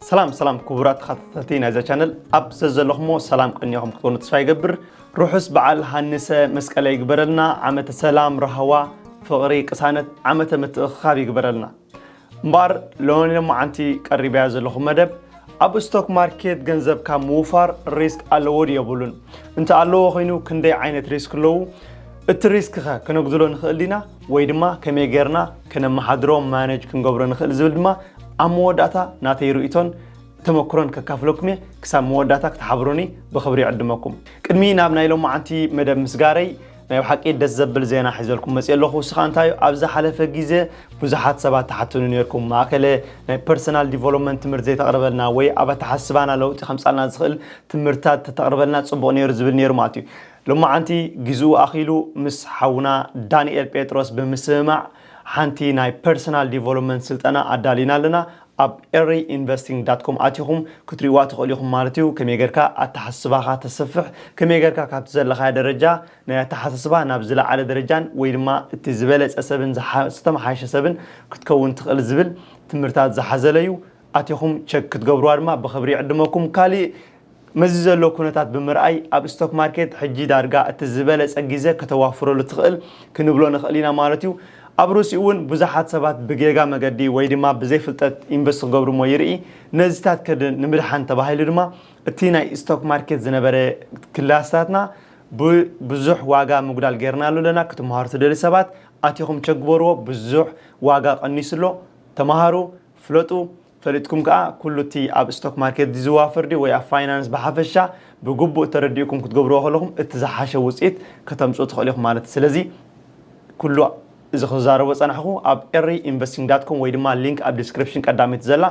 ሰላም ሰላም ክቡራት ተኸታተልቲ ናይዛ ቻነል ኣብ ዘዘለኹሞ ሰላም ቅኒኹም ክትኮኑ ተስፋ ይገብር ርሑስ በዓል ሃንሰ መስቀለ ይግበረልና ዓመተ ሰላም ራህዋ ፍቕሪ ቅሳነት ዓመተ ምትእኽኻብ ይግበረልና እምበኣር ሎኒ ሎማዓንቲ ቀሪበያ ዘለኹ መደብ ኣብ ስቶክ ማርኬት ገንዘብካ ምውፋር ሪስክ ኣለዎ ድዩ የብሉን እንተ ኣለዎ ኮይኑ ክንደይ ዓይነት ሪስክ ኣለዉ እቲ ሪስክ ከ ክነጉድሎ ንኽእል ዲና ወይ ድማ ከመይ ጌርና ከነመሓድሮ ማነጅ ክንገብሮ ንኽእል ዝብል ድማ ኣብ መወዳእታ ናተይ ርእይቶን ተመክሮን ከካፍለኩም እየ ክሳብ መወዳእታ ክትሓብሩኒ ብኽብሪ ይዕድመኩም ቅድሚ ናብ ናይ ሎማዓንቲ መደብ ምስጋረይ ናይ ብሓቂ ደስ ዘብል ዜና ሒዘልኩም መፅእ ኣለኹ እሱ ከዓ እንታይ ኣብ ዝሓለፈ ግዜ ብዙሓት ሰባት ተሓትኑ ነርኩም ማእከለ ናይ ፐርሰናል ዲቨሎፕመንት ትምህርቲ ዘይተቕርበልና ወይ ኣብ ኣተሓስባና ለውጢ ከምፃልና ዝኽእል ትምህርትታት ተተቕርበልና ፅቡቕ ነይሩ ዝብል ነይሩ ማለት እዩ ሎማዓንቲ ግዚኡ ኣኺሉ ምስ ሓውና ዳኒኤል ጴጥሮስ ብምስምማዕ ሓንቲ ናይ ፐርሰናል ዲቨሎፕመንት ስልጠና ኣዳሊና ኣለና ኣብ Early Investing dot com ኣቲኹም ክትሪእዋ ትኽእሉ ኢኹም ማለት እዩ ከመይ ጌርካ ኣተሓስስባኻ ተስፍሕ ከመይ ጌርካ ካብቲ ዘለኻዮ ደረጃ ናይ ኣተሓሳስባ ናብ ዝለዓለ ደረጃን ወይ ድማ እቲ ዝበለጸ ሰብን ዝተመሓየሸ ሰብን ክትከውን ትኽእል ዝብል ትምህርታት ዝሓዘለ እዩ ኣቲኹም ቸክ ክትገብርዋ ድማ ብኽብሪ ይዕድመኩም ካሊእ ነዚ ዘሎ ኩነታት ብምርኣይ ኣብ ስቶክ ማርኬት ሕጂ ዳርጋ እቲ ዝበለጸ ግዜ ከተዋፍረሉ ትኽእል ክንብሎ ንኽእል ኢና ማለት እዩ። ኣብ ሩሲ'ውን ብዙሓት ሰባት ብጌጋ መገዲ ወይ ድማ ብዘይ ፍልጠት ኢንቨስት ክገብሩ'ሞ ይርኢ። ነዚታት ከድን ንምድሓን ተባሂሉ ድማ እቲ ናይ ስቶክ ማርኬት ዝነበረ ክላስታትና ብብዙሕ ዋጋ ምጉዳል ጌርናሉ ኣለና። ክትመሃሩ ትደልዩ ሰባት ኣቲኹም ቸክ ግበርዎ ብዙሕ ዋጋ ቀኒሱ ኣሎ። ተመሃሩ፣ ፍለጡ። ፈሊጥኩም ከኣ ኩሉ እቲ ኣብ ስቶክ ማርኬት ዚዘዋፈር ድዩ ወይ ኣብ ፋይናንስ ብሓፈሻ ብግቡእ ተረዲእኩም ክትገብርዎ ከለኹም እቲ ዝሓሸ ውጽኢት ከተምጽኡ ትኽእሉ ኢኹም ማለት እዩ። ስለዚ ኩሉ እዚ ክዛረቦ ዝጸናሕኩ ኣብ ኤሪ ኢንቨስቲንግ ዳት ኮም ወይ ድማ ሊንክ ኣብ ዲስክሪፕሽን ቀዳመይቲ ዘላ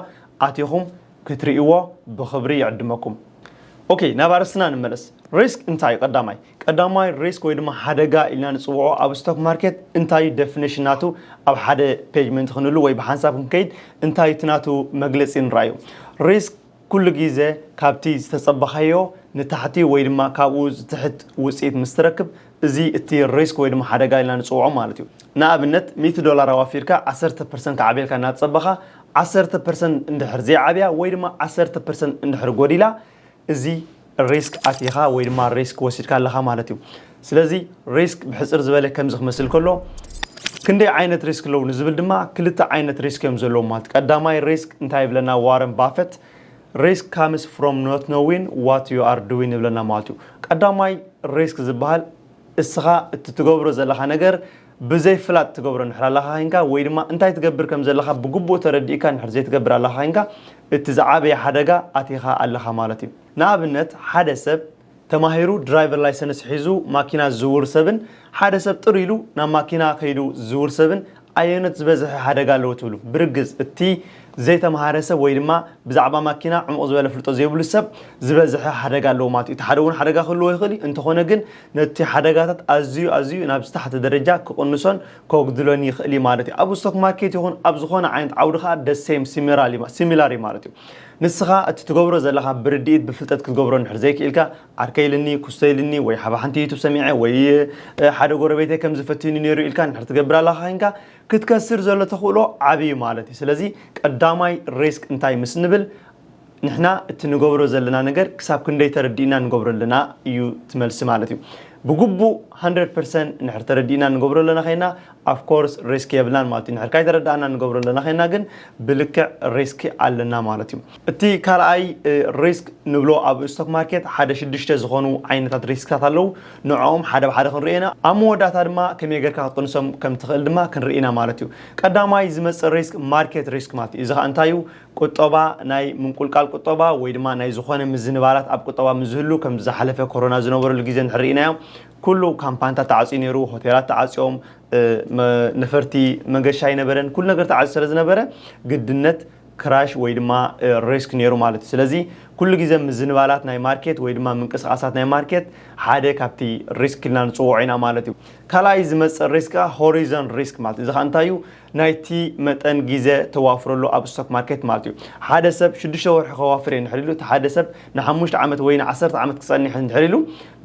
ኣቲኹም ክትርእይዎ ብኽብሪ ይዕድመኩም። ኦኬ ናብ ኣርእስትና ንመለስ። ሪስክ እንታይ እዩ ቀዳማይ? ቀዳማይ ሪስክ ወይ ድማ ሓደጋ ኢልና ንጽውዖ ኣብ ስቶክ ማርኬት እንታይ እዩ ደፊኒሽን ናቱ ኣብ ሓደ ፔጅ ምእንቲ ክንህሉ ወይ ብሓንሳብ ክንከይድ እንታይ እቲ ናቱ መግለጺ ንርኣዩ ሪስክ ኩሉ ግዜ ካብቲ ዝተጸበኻዮ ንታሕቲ ወይ ድማ ካብኡ ዝትሕት ውጽኢት ምስ ትረክብ እዚ እቲ ሪስክ ወይ ድማ ሓደጋ ኢልና ንጽውዖ ማለት እዩ ንኣብነት ሚእቲ ዶላር ኣዋፊርካ ዓሰርተ ፐርሰንት ክዓብየልካ እናተጸበኻ ዓሰርተ ፐርሰንት እንድሕር ዘይዓብያ ወይ ድማ ዓሰርተ ፐርሰንት እንድሕር ጎዲላ እዚ ሪስክ ኣቲኻ ወይ ድማ ሪስክ ወሲድካ ኣለኻ ማለት እዩ። ስለዚ ሪስክ ብሕጽር ዝበለ ከምዚ ክመስል ከሎ ክንደይ ዓይነት ሪስክ ኣለዉ ንዝብል ድማ ክልተ ዓይነት ሪስክ እዮም ዘለዉ ማለት ቀዳማይ ሪስክ እንታይ ይብለና ዋረን ባፈት ሪስክ ካምስ ፍሮም ኖት ኖዊን ዋት ዩ ኣር ዱዊን ይብለና ማለት እዩ። ቀዳማይ ሪስክ ዝበሃል እስኻ እትትገብሮ ዘለኻ ነገር ብዘይ ፍላጥ ትገብሮ እንድሕር ኣለኻ ዄንካ ወይ ድማ እንታይ ትገብር ከም ዘለኻ ብግቡእ ተረዲእካ እንድሕር ዘይትገብር ኣለኻ ዄንካ እቲ ዝዓበየ ሓደጋ ኣቲኻ ኣለኻ ማለት እዩ። ንኣብነት ሓደ ሰብ ተማሂሩ ድራይቨር ላይሰንስ ሒዙ ማኪና ዝዝውር ሰብን ሓደ ሰብ ጥር ኢሉ ናብ ማኪና ከይዱ ዝዝውር ሰብን ኣየኖት ዝበዝሐ ሓደጋ ኣለዎ ትብሉ? ብርግጽ እቲ ዘይተምሃረ ሰብ ወይ ድማ ብዛዕባ ማኪና ዕሙቕ ዝበለ ኣፍልጦ ዘይብሉ ሰብ ዝበዝሐ ሓደጋ ኣለዎ ማለት እዩ። እቲ ሓደ እውን ሓደጋ ክህልዎ ይኽእል እዩ እንተኾነ ግን ነቲ ሓደጋታት ኣዝዩ ኣዝዩ ናብ ዝተሓተ ደረጃ ክቕንሶን ከጉድሎን ይኽእል እዩ ማለት እዩ። ኣብ ስቶክ ማርኬት ይኹን ኣብ ዝኾነ ዓይነት ዓውዲ ከኣ the same ሲሚራል እዩ similar እዩ ማለት እዩ። ንስኻ እቲ ትገብሮ ዘለኻ ብርድኢት ብፍልጠት ክትገብሮ እንድሕር ዘይክኢልካ ዓርከይ ኢልኒ ኩስቶ ኢልኒ ወይ ሓብ ሓንቲ ዩቱብ ሰሚዐ ወይ ሓደ ጎረቤተይ ከምዚ ፈቲኑ ነይሩ ኢልካ እንድሕር ትገብር ኣለኻ ኮይንካ ክትከስር ዘሎ ተኽእሎ ዓቢ እዩ ማለት እዩ። ስለዚ ቀዳማይ ሪስክ እንታይ ምስ ንብል ንሕና እቲ ንገብሮ ዘለና ነገር ክሳብ ክንደይ ተረዲእና ንገብሮ ኣለና እዩ እቲ መልሲ ማለት እዩ። ብግቡእ ሃንድረድ ፐርሰንት እንድሕር ተረዲእና ንገብሮ ኣለና ዄንና ኣፍ ኮርስ ሪስክ የብልናን ማለት እዩ። እንድሕር ካይተረዳእና ንገብሮ ኣለና ዄንና ግን ብልክዕ ሪስክ ኣለና ማለት እዩ። እቲ ካልኣይ ሪስክ ንብሎ ኣብ ስቶክ ማርኬት ሓደ ሽዱሽተ ዝኾኑ ዓይነታት ሪስክታት ኣለዉ። ንዕኦም ሓደ ብሓደ ክንሪኦ ኢና። ኣብ መወዳእታ ድማ ከመይ ጌርካ ክትቅንሶም ከም ትኽእል ድማ ክንርኢ ኢና ማለት እዩ። ቀዳማይ ዝመጽእ ሪስክ ማርኬት ሪስክ ማለት እዩ። እዚ ከኣ እንታይ እዩ? ቁጠባ ናይ ምንቁልቃል ቁጠባ ወይ ድማ ናይ ዝኾነ ምዝንባላት ኣብ ቁጠባ ምስ ዝህሉ ከምዚ ዝሓለፈ ኮሮና ዝነበረሉ ግዜ እንድሕር ርኢናዮ ኩሉ ካምፓንታት ተዓጽዩ ነይሩ፣ ሆቴላት ተዓጽዮም፣ ነፈርቲ መገሻ ኣይነበረን፣ ኩሉ ነገር ተዓጽዩ ስለ ዝነበረ ግድነት ክራሽ ወይ ድማ ሪስክ ነይሩ ማለት እዩ። ስለዚ ኩሉ ግዜ ምዝንባላት ናይ ማርኬት ወይ ድማ ምንቅስቓሳት ናይ ማርኬት ሓደ ካብቲ ሪስክ ኢልና ንጽውዖ ኢና ማለት እዩ። ካልኣይ ዝመጽእ ሪስክ ከኣ ሆሪዞን ሪስክ ማለት እዩ። እዚ ከኣ እንታይ እዩ? ናይቲ መጠን ግዜ ተዋፍረሉ ኣብ ስቶክ ማርኬት ማለት እዩ። ሓደ ሰብ ሽዱሽተ ወርሒ ከዋፍር እየ እንድሕር ኢሉ፣ እቲ ሓደ ሰብ ንሓሙሽተ ዓመት ወይ ንዓሰርተ ዓመት ክጸንሕ እንድሕር ኢሉ፣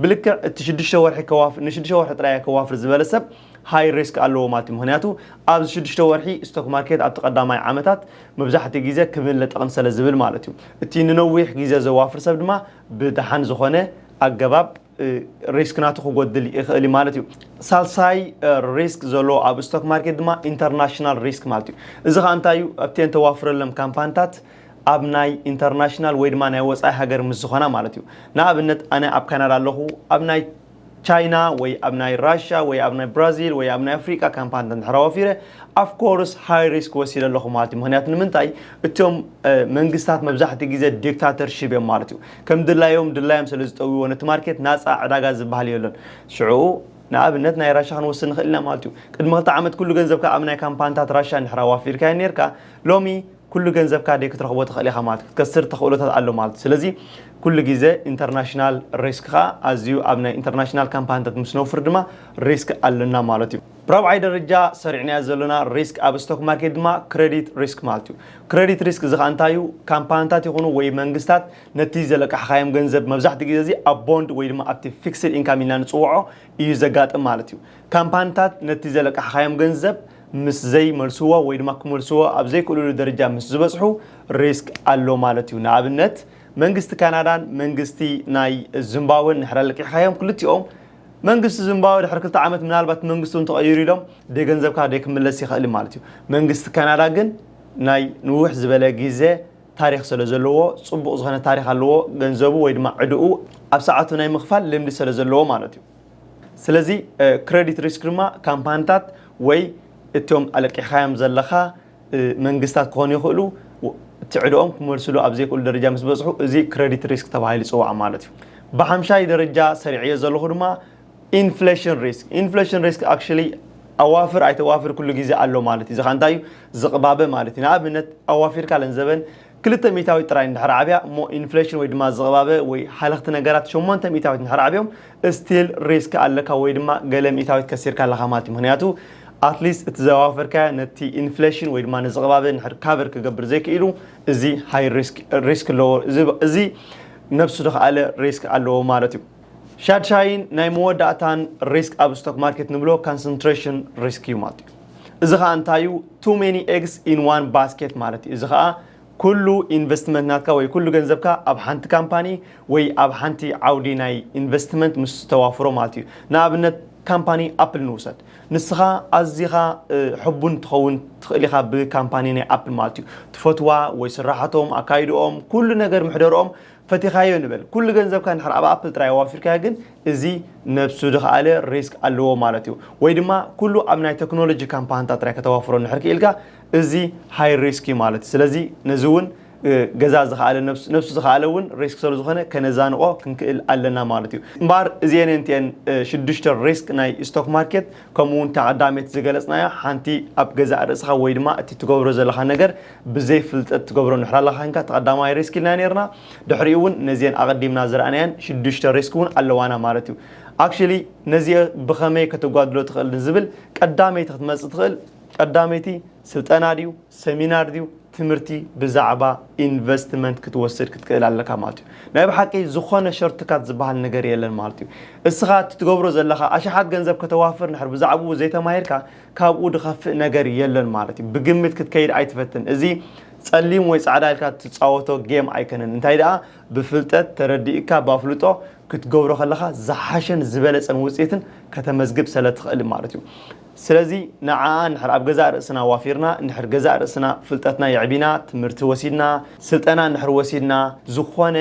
ብልክዕ እቲ ሽዱሽተ ወርሒ ከዋፍር ንሽዱሽተ ወርሒ ጥራይ እየ ከዋፍር ዝበለ ሰብ ሃይ ሪስክ ኣለዎ ማለት እዩ። ምኽንያቱ ኣብዚ ሽዱሽተ ወርሒ ስቶክ ማርኬት ኣብቲ ቀዳማይ ዓመታት መብዛሕትኡ ግዜ ክብን ለጠቕን ሰለዝብል ማለት እዩ። እቲ ንነዊሕ ግዜ ዘዋፍር ሰብ ድማ ብደሓን ዝኾነ ኣገባብ ሪስክ ናቱ ክጎድል ይኽእል እዩ ማለት እዩ ሳልሳይ ሪስክ ዘሎ ኣብ ስቶክ ማርኬት ድማ ኢንተርናሽናል ሪስክ ማለት እዩ እዚ ከዓ እንታይ እዩ ኣብተን ተዋፍረሎም ካምፓንታት ኣብ ናይ ኢንተርናሽናል ወይ ድማ ናይ ወፃኢ ሃገር ምስ ዝኾና ማለት እዩ ንኣብነት ኣነ ኣብ ካናዳ ኣለኹ ኣብ ናይ ቻይና ወይ ኣብ ናይ ራሻ ወይ ኣብ ናይ ብራዚል ወይ ኣብ ናይ ኣፍሪቃ ካምፓኒ እንድሕራ ወፊረ ኣፍ ኮርስ ሃይ ሪስክ ወሲደ ኣለኹ ማለት እዩ ምክንያቱ ንምንታይ እቶም መንግስታት መብዛሕትኡ ግዜ ዲክታተርሽፕ እዮም ማለት እዩ ከም ድላዮም ድላዮም ስለ ዝጠውይዎ ነቲ ማርኬት ናጻ ዕዳጋ ዝብሃል የሎን ሽዑኡ ንኣብነት ናይ ራሻ ክንወስድ ንኽእል ኢና ማለት እዩ ቅድሚ ክልተ ዓመት ኩሉ ገንዘብካ ኣብ ናይ ካምፓንታት ራሻ እንድሕር ኣዋፊርካዮ ኔርካ ሎሚ ኩሉ ገንዘብካ ደይ ክትረኽቦ ትኽእል ኢኻ ማለት ክትከስር ተኽእሎታት ኣሎ ማለት ስለዚ ኩሉ ግዜ ኢንተርናሽናል ሪስክኻ ኣዝዩ ኣብ ናይ ኢንተርናሽናል ካምፓንታት ምስ ነውፍር ድማ ሪስክ ኣለና ማለት እዩ ብራብዓይ ደረጃ ሰሪዕናዮ ዘሎና ሪስክ ኣብ ስቶክ ማርኬት ድማ ክረዲት ሪስክ ማለት እዩ። ክረዲት ሪስክ እዚ ኸዓ እንታይ እዩ? ካምፓንታት ይኹኑ ወይ መንግስታት ነቲ ዘለቃሕኻዮም ገንዘብ መብዛሕትኡ ግዜ እዚ ኣብ ቦንድ ወይ ድማ ኣብቲ ፊክስድ ኢንካም ኢልና ንጽውዖ እዩ ዘጋጥም ማለት እዩ። ካምፓንታት ነቲ ዘለቃሕኻዮም ገንዘብ ምስ ዘይመልስዎ ወይ ድማ ክመልስዎ ኣብ ዘይክእልሉ ደረጃ ምስ ዝበጽሑ ሪስክ ኣሎ ማለት እዩ። ንኣብነት መንግስቲ ካናዳን መንግስቲ ናይ ዝምባወን ንሕና ለቂሕኻዮም ክልቲኦም መንግስቲ ዚምባብወ ድሕሪ ክልተ ዓመት ምናልባት መንግስቲ እውን ተቐይሩ ኢሎም ደይ ገንዘብካ ደይ ክምለስ ይኽእል እዩ ማለት እዩ። መንግስቲ ካናዳ ግን ናይ ንውሕ ዝበለ ግዘ ታሪኽ ሰለ ዘለዎ ፅቡቕ ዝኾነ ታሪኽ ኣለዎ ገንዘቡ ወይ ድማ ዕድኡ ኣብ ሰዓቱ ናይ ምኽፋል ልምዲ ሰለ ዘለዎ ማለት እዩ። ስለዚ ክረዲት ሪስክ ድማ ካምፓኒታት ወይ እቶም ኣለቂሕኻዮም ዘለኻ መንግስታት ክኾኑ ይኽእሉ እቲ ዕድኦም ክመልስሉ ኣብ ዘይክእሉ ደረጃ ምስ በፅሑ እዚ ክረዲት ሪስክ ተባሂሉ ይፅዋዕ ማለት እዩ። ብሓምሻይ ደረጃ ሰሪዐዮ ዘለኹ ድማ ኢንፍሌሽን ሪስክ ኢንፍሌሽን ሪስክ ኣክሽሊ ኣዋፍር ኣይተዋፍር ኩሉ ግዜ ኣሎ ማለት እዩ። እዚ ከዓ እንታይ እዩ ዝቕባበ ማለት እዩ። ንኣብነት ኣዋፊርካ ለንዘበን ክልተ ሚእታዊት ጥራይ እንድሕር ዓብያ እሞ ኢንፍሌሽን ወይ ድማ ዝቕባበ ወይ ሃለኽቲ ነገራት ሸሞንተ ሚእታዊት እንድሕር ዓብዮም እስቲል ሪስክ ኣለካ ወይ ድማ ገለ ሚእታዊት ከሲርካ ኣለኻ ማለት እዩ ምኽንያቱ ኣትሊስት እቲ ዘዋፈርካዮ ነቲ ኢንፍሌሽን ወይ ድማ ንዝቕባበ እንድሕር ካቨር ክገብር ዘይክኢሉ እዚ ሃይ ሪስክ ሪስክ ኣለዎ እዚ ነብሱ ዝኸኣለ ሪስክ ኣለዎ ማለት እዩ ሻድሻይን ናይ መወዳእታን ሪስክ ኣብ ስቶክ ማርኬት ንብሎ ካንሰንትሬሽን ሪስክ እዩ ማለት እዩ እዚ ከዓ እንታይ እዩ ቱ ሜኒ ኤግስ ኢን ዋን ባስኬት ማለት እዩ እዚ ከዓ ኩሉ ኢንቨስትመንት ናትካ ወይ ኩሉ ገንዘብካ ኣብ ሓንቲ ካምፓኒ ወይ ኣብ ሓንቲ ዓውዲ ናይ ኢንቨስትመንት ምስ ተዋፍሮ ማለት እዩ ንኣብነት ካምፓኒ ኣፕል ንውሰድ ንስኻ ኣዚኻ ሕቡን ትኸውን ትኽእል ኢኻ ብካምፓኒ ናይ ኣፕል ማለት እዩ ትፈትዋ ወይ ስራሓቶም ኣካይድኦም ኩሉ ነገር ምሕደርኦም ፈቲኻዮ ንበል ኩሉ ገንዘብካ እንድሕር ኣብ ኣፕል ጥራይ ኣዋፊርካዮ ግን እዚ ነብሱ ድኽኣለ ሪስክ ኣለዎ ማለት እዩ ወይ ድማ ኩሉ ኣብ ናይ ተክኖሎጂ ካምፓንታት ጥራይ ከተዋፍሮ እንድሕር ክኢልካ እዚ ሃይ ሪስክ እዩ ማለት እዩ ስለዚ ነዚ እውን ገዛ ዝኽኣለ ነብሱ ዝኽኣለ እውን ሪስክ ስለ ዝኾነ ከነዛንቆ ክንክእል ኣለና ማለት እዩ እምበኣር እዚኤን እንቲኤን ሽዱሽተ ሪስክ ናይ ስቶክ ማርኬት ከምኡ እውን እታ ቀዳመይቲ ዝገለጽናያ ሓንቲ ኣብ ገዛእ ርእስኻ ወይ ድማ እቲ ትገብሮ ዘለኻ ነገር ብዘይ ፍልጠት ትገብሮ እንድሕር ኣለኻ ኴንካ እቲ ቀዳማይ ሪስክ ኢልና ኔርና ድሕሪኡ ውን ነዚኤን ኣቐዲምና ዝረኣናየን ሽዱሽተ ሪስክ ውን ኣለዋና ማለት እዩ ኣክሽሊ ነዚኤ ብኸመይ ከተጓድሎ ትኽእል ንዝብል ቀዳመይቲ ክትመጽእ ትኽእል ቀዳመይቲ ስልጠና ድዩ ሰሚናር ድዩ ትምህርቲ ብዛዕባ ኢንቨስትመንት ክትወስድ ክትክእል ኣለካ ማለት እዩ ናይ ብሓቂ ዝኾነ ሸርትካት ዝበሃል ነገር የለን ማለት እዩ እስኻ እቲ ትገብሮ ዘለኻ ኣሽሓት ገንዘብ ከተዋፍር ንድሕር ብዛዕብኡ ዘይተማሂርካ ካብኡ ድኸፍእ ነገር የለን ማለት እዩ ብግምት ክትከይድ ኣይትፈትን እዚ ጸሊም ወይ ጻዕዳ ኢልካ ትጻወቶ ጌም ኣይከነን እንታይ ደኣ ብፍልጠት ተረዲእካ ባፍልጦ ክትገብሮ ከለኻ ዝሓሸን ዝበለጸን ውጽኢትን ከተመዝግብ ሰለትኽእል ማለት እዩ ስለዚ ንዓኣ ንድሕር ኣብ ገዛእ ርእስና ዋፊርና ንድሕር ገዛእ ርእስና ፍልጠትና የዕቢና ትምህርቲ ወሲድና ስልጠና ንድሕር ወሲድና ዝኾነ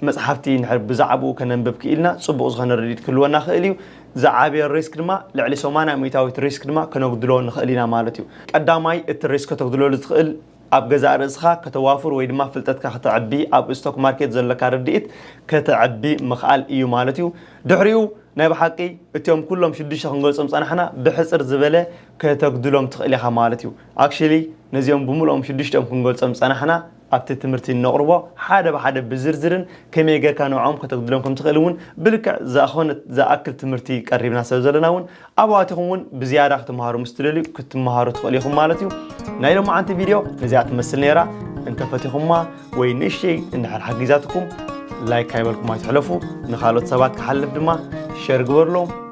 መጽሓፍቲ እንድሕር ብዛዕብኡ ከነንብብ ክኢልና ጽቡቕ ዝኾነ ርድኢት ክህልወና ክእል እዩ። ዝዓበየ ሪስክ ድማ ልዕሊ ሰማንያ ሚእታዊት ሪስክ ድማ ከነጉድሎ ንኽእል ኢና ማለት እዩ። ቀዳማይ እቲ ሪስክ ከተጉድለሉ ትኽእል ኣብ ገዛእ ርእስኻ ከተዋፍር ወይ ድማ ፍልጠትካ ከተዕቢ ኣብ ስቶክ ማርኬት ዘሎካ ርድኢት ከተዕቢ ምኽኣል እዩ ማለት እዩ። ድሕሪኡ ናይ ብሓቂ እቲኦም ኩሎም ሽዱሽተ ክንገልጾም ዝጸናሕና ብሕጽር ዝበለ ከተጉድሎም ትኽእል ኢኻ ማለት እዩ። Actually ነዚኦም ብምልኦም ሽዱሽቲኦም ክንገልጾም ዝጸናሕና ኣብቲ ትምህርቲ እነቕርቦ ሓደ ብሓደ ብዝርዝርን ከመይ ጌርካ ንዕኦም ከተጉድሎም ከም ትኽእል እውን ብልክዕ ዝኣኾነ ዝኣክል ትምህርቲ ቀሪብና ስለ ዘሎና እውን ኣብኡ ኣቲኹም እውን ብዝያዳ ክትመሃሩ ምስ ትደልዩ ክትመሃሩ ትኽእሉ ኢኹም ማለት እዩ ናይ ሎማዓንቲ ቪድዮ ነዚኣ ትመስል ነይራ እንተፈቲኹማ ወይ ንእሽተይ እንድሕር ሓጊዛትኩም ላይክ ካይበልኩም ኣይትሕለፉ ንኻልኦት ሰባት ክሓልፍ ድማ ሸር ግበርሎም